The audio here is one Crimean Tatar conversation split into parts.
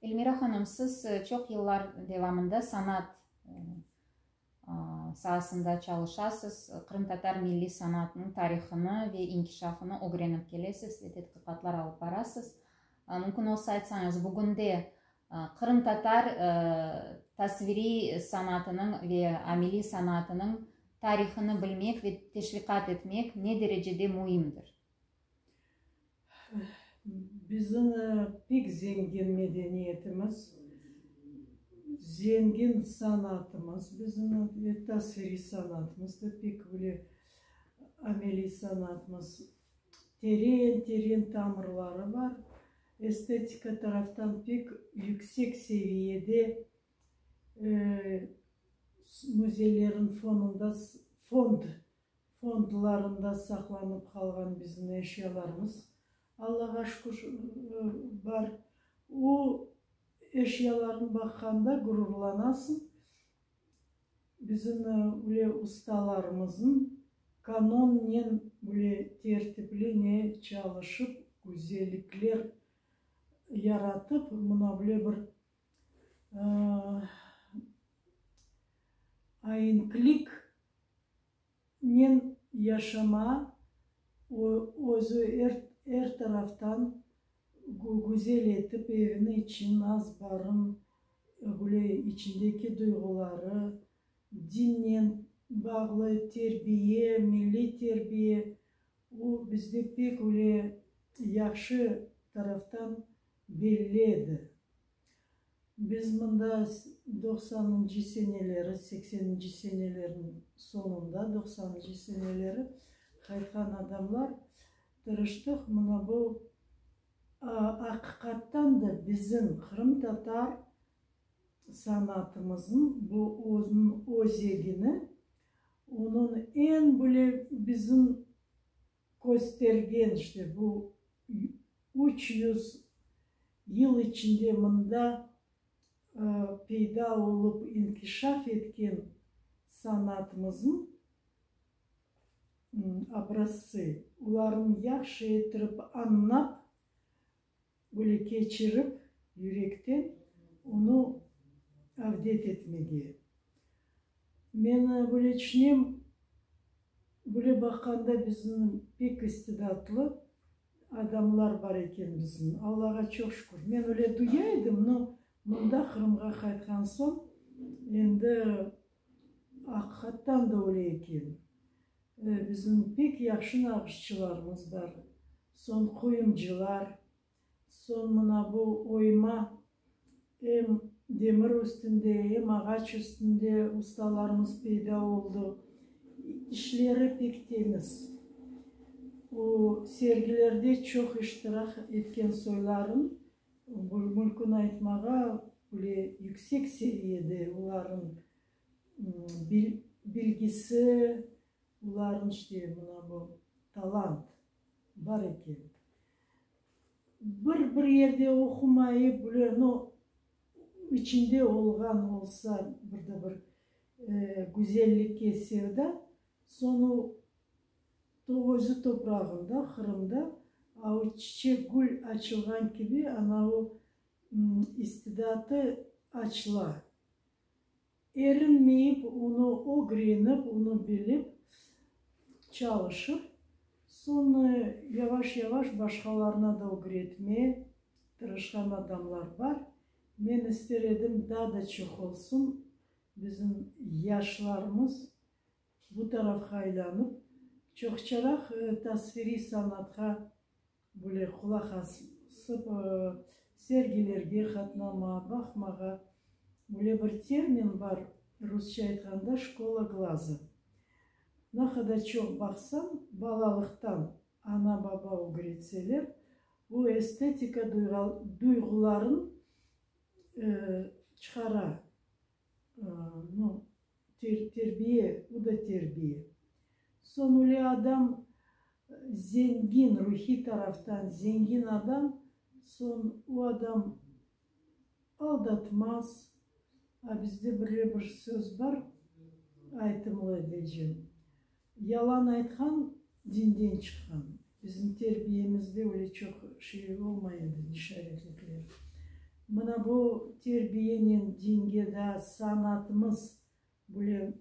Elmira hanım, siz çoq yıllar devamında sanat saasında çalışasız, qırımtatar milliy sanatınıñ tarihını ve inkişafını ögrenip kelesiz ve tedqiqatlar alıp barasız. Mümkün olsa aytsañız, bugünde qırımtatar tasviriy sanatınıñ ve ameliy sanatınıñ tarihını bilmek ve teşviqat etmek ne derecede müimdir? Bizim pek zengin medeniyetimiz, zengin sanatımız bizim, ve tasviriy sanatımız da pek böyle ameliy sanatımız teren teren tamırları bar. Estetika taraftan pek yüksek seviyede müzeylerin fonunda fond. Fondlarında saqlanıp qalğan bizniñ eşyalarımız, Allağa şükür, bar. O eşyalarnı baqqanda ğururlanasıñ. Bizim üle ustalarımıznıñ kanonnen üle tertipli ne çalışıp, güzellikler yaratıp, mına üle bir Ayinklik nen yaşama özü er taraftan güzel etip evini içün az barın güle içindeki duyğuları dinen bağlı terbiye milliy terbiye o bizde pek öyle yahşı taraftan Belli edi. Biz mında doqsanıncı seneleri, sekseninci senelerniñ soñunda, doqsanıncı seneleri qaytqan adamlar tırıştıq, mına bu, aqiqattan da, bizim qırımtatar sanatımıznıñ bu özüniñ özegini, onıñ eñ böyle bizim, köstergen, işte, bu üç yüz yıl içinde mında peyda olıp inkişaf etken sanatımıznıñ obrazsı, olarnı yahşı ettirip añlap, Böyle keçirip, yürekten onı avdet etmege. Men böyle tüşünem, böyle baqanda bizim pek istidatlı adamlar bar eken bizim. Allağa çoq şükür. Men öyle duya edim, no mında Qırımğa qaytqan soñ endi. Aqiqattan da öyle eken. Bizim pek yahşı nağışçılarımız bar, soñ qoyumcılar, soñ mına bu oyma, em demir üstünde, em ağaç üstünde ustalarımız peyda oldı. İşleri pek temiz. O sergilerde çoq iştirak etken soyların Mülküni aytmağa bile yüksek seviyede olarnıñ bilgisi, olarnıñ işte mına bu talant bar eken. Bir bir yerde oqumayı bile, no içinde olğan olsa bir de bir güzellikke sevda, soñu Özü toprağında, Qırımda o çiçek-gül açılğan kibi ana o istidatı açıla. Erinmeyip, onı ögrenip, onı bilip, çalışıp, soñ yavaş-yavaş başqalarına da ögretme tırışqan adamlar bar. Men ister edim, daa da çoq olsun bizim yaşlarımız Bu tarafqa aylanıp, çoqçaraq tasviriy sanatqa bile qulaq asıp, sergilerge qatnama, baqmağa, bile bir termin bar, rusça aytqanda, şkola glaza. Na qadar çoq baqsañ, balalıqtan ana-baba ögretseler, bu estetika duyğularıñ çıqara, No, terbiye, o da terbiye. Soñ öyle adam zengin, ruhiy taraftan zengin adam, soñ o adam aldatmaz. A bizde böyle bir söz bar, aytımlı edecem. Yalan aytqan, dinden çıqqan. Bizim terbiyemizde öyle çoq şey olmay edi, nişaretlikler. Mına bu terbiyenen dinde daa sanatımız böyle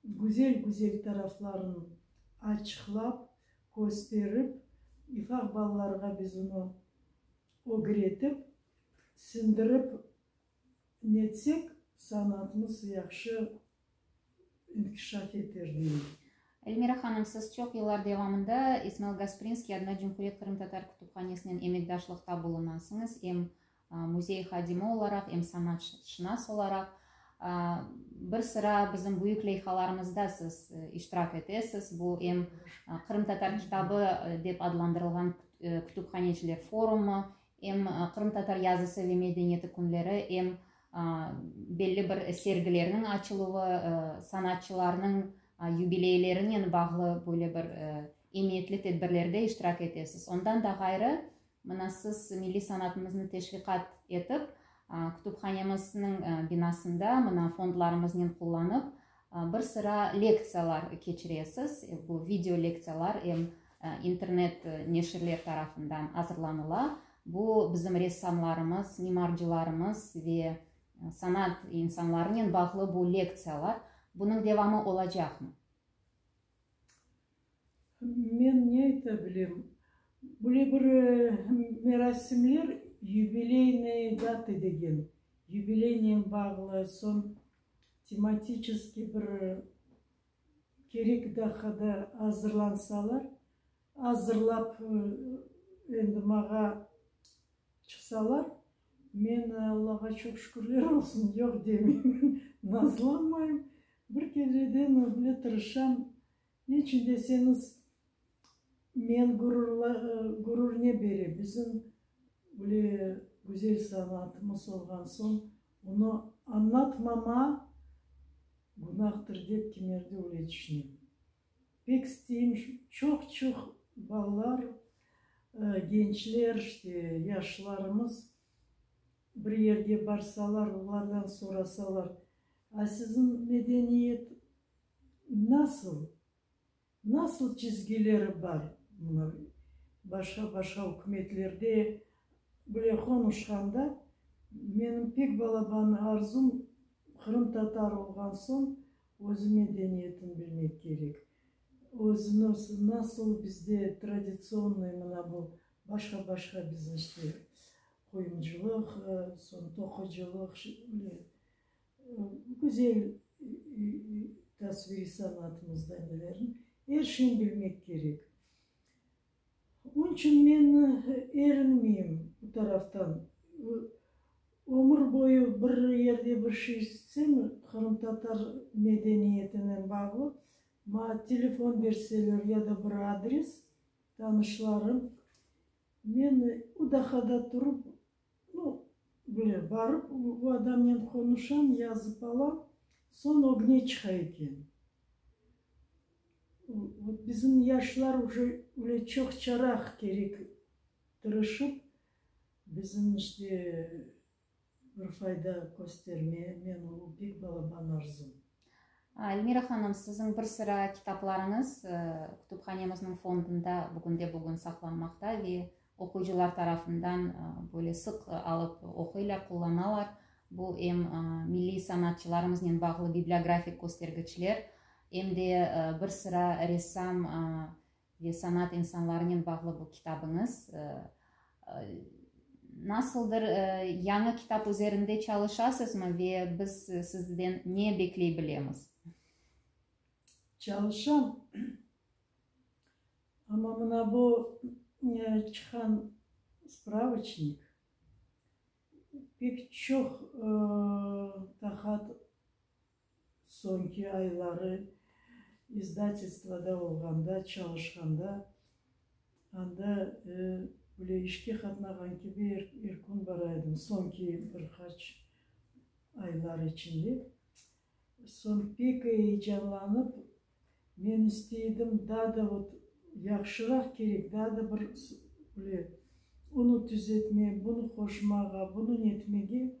güzel-güzel tarafların açıqlap, kösterip, ifaq balalarğa biz onı ögretip, sindirip netsek, sanatımız yahşı inkişaf eterler. Elmira hanım, siz çoq yıllar devamında İsmail Gasprinskiy adına Cumhuriyet qırımtatar kütüphanesinen emekdaşlıqta bulunasıñız, em müzey hadimi olaraq, em sanatşınas olaraq. Bir sıra bizim büyük leyhalarımızda siz iştirak etesiz, bu em Qırımtatar kitabı dep adlandırılğan kütüphaneciler forumı, em Qırımtatar yazısı ve medeniyeti künleri, em belli bir sergilerniñ açıluvı, sanatçılarnıñ yubileylerinen bağlı böyle bir emiyetli tedbirlerde iştirak etesiz. Ondan da ğayrı, mına siz milliy sanatımıznı teşviqat etip, kütüphanemizniñ binasında mına fondlarımıznıñ qullanıp, Bir sıra lektsiyalar keçiresiz, bu video lektsiyalar em internet neşirler tarafından azırlanıla. Bu bizim ressamlarımız, mimarcılarımız ve sanat insanlarınen bağlı bu lektsiyalar. Bunıñ devamı olacaqmı? Men ne ayta bilem, böyle bir merasimler yubileynoye data degen, yubileynen bağlı, soñ tematiçeskiy bir kerek daqada azırlansalar, azırlap endi mağa çıqsalar, men Allağa çoq şükürler olsun, yoq demeymen, nazlanmayım. Bir kereden böyle tırışam, Neçün deseñiz, men gurur ne bere, bizim böyle güzel sanatımız olğan soñ, onı añlatmama günahdır dep kimerde öyle tüşünem. Pek isteyim, çoq-çoq balalar, gençler, işte, yaşlarımız bir yerge barsalar, olardan sorasalar, A, siziñ medeniyet Nasıl? Nasıl çizgileri bar? Mına, başqa-başqa ükümetlerde bile qonuşqanda, menim pek balaban arzum, qırımtatar olğan soñ, özü medeniyetin bilmek kerek. Özü nasıl, nasıl bizde traditsionnıy mına bu başqa-başqa bizim işte qoyuncılıq, soñ toqıcılıq, Güzel tasviriy sanatımızda nelerni, er şeyni bilmek kerek. Onıñ içün men erinmeyim bu taraftan. Ömür boyu bir yerde bir şey istesem, qırımtatar medeniyetinen bağlı, maña telefon berseler ya da bir adres, tanışlarım, men o dahada turıp, O, böyle, barıp o adamnen qonuşam, yazıp alam, soñ ögne çıqa eken. Vot bizim yaşlar уже öyle çoqçaraq kerek tırışıp, bizim işte bir fayda köstermeye, men o pek balaban arzum. Elmira hanım, siziñ bir sıra kitaplarıñız kütüphanemizniñ fondunda bugünde-bugün saqlanmaqta ve oquyıcılar tarafından böyle sıq alıp oquylar, qullanalar. Bu em milliy sanatçılarımıznen bağlı bibliografik köstergiçler, em de bir sıra ressam Ve sanat insanlarınen bağlı bu kitabıñız nasıldır? Yañı kitap üzerinde çalışasızmı ve biz sizden ne bekley bilemiz? Çalışam. Amma mına bu çıqan spravıçnik pek çoq qahat Soñki ayları izdatelstvoda olğanda, çalışqanda, anda böyle işke qatnağan kibi er kün baraydım, soñki bir qaç aylar içinde. Soñ pek eyecanlanıp, men isteydim, daa da ot yahşıraq kerek, daa da bir böyle, onı tüzetme, bunı qoşmağa, bunı netmege,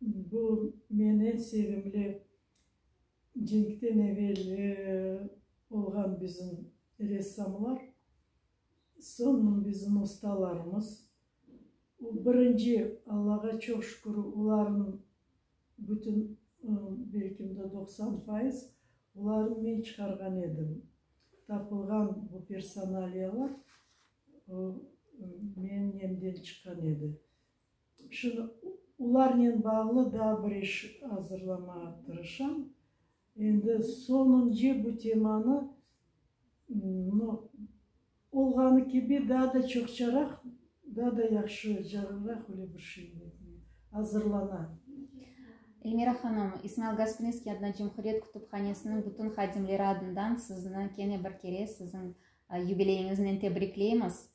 Bu men eñ sevimli cenkten evel olğan bizim ressamlar, soñ bizim ustalarımız. O birinci, Allağa çoq şükür, olarnıñ bütün, belkim de doqsan fayız, olarnı men çıqarğan edim. Tapılğan bu personaliyalar, o menemden çıqqan edi. Şimdi olarnen bağlı daa bir iş azırlamağa tırışam. Endi soñunce bu temanı, no, olğanı kibi daa da çoqçaraq, daa da yahşı, cagırraq öyle bir şey etmeye azırlana. Elmira hanım, İsmail Gasprinskiy adına Cumhuriyet kütüphanesiniñ bütün hadimleri adından sizni kene bir kere siziñ Yubileyiñiznen tebrikleymiz!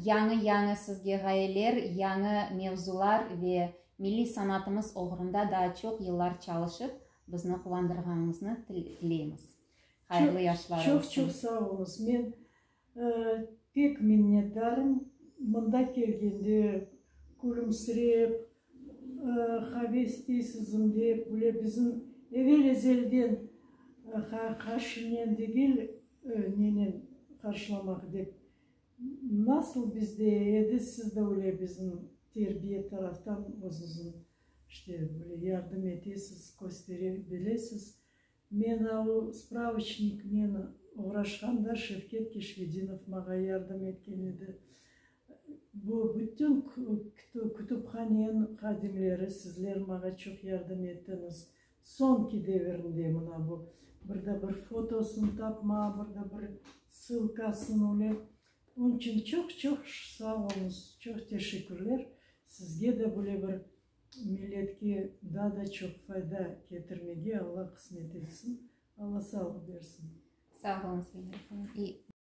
Yañı-yañı sizge ğayeler, yañı mevzular ve milliy sanatımız oğrunda daa çoq yıllar çalışıp, bizni quvandırğanıñıznı tileymiz. Hayırlı yaşlar olsun! Çoq-çoq sağ oluñız! Men pek minnetdarım, mında kelgende külümsirep, Haves deysizm dep, bile bizim evel ezelden qarşınen degil, nenen qarşılamaq dep. Nasıl bizde edi, siz de öyle bizim terbiye taraftan özüzün, işte, böyle yardım etesiz, köstere bilesiz. Men avu spravıçniknen oğraşqanda Şevket Keşfedinov mağa yardım etken edi. Bu bütün kütüphanen hadimleri, sizler mağa çoq yardım ettiñiz. Soñki devirinde mına bu bir da bir fotosını tapma, bir da bir sılkasını öyle. Onıñ içün çoq-çoq sağ oluñız, çoq teşekkürler. Sizge de böyle bir Milletke daa da çoq fayda ketirmege Alla qısmet etsin, Alla sağlıq bersin. Sağ olunız, Mine efendim.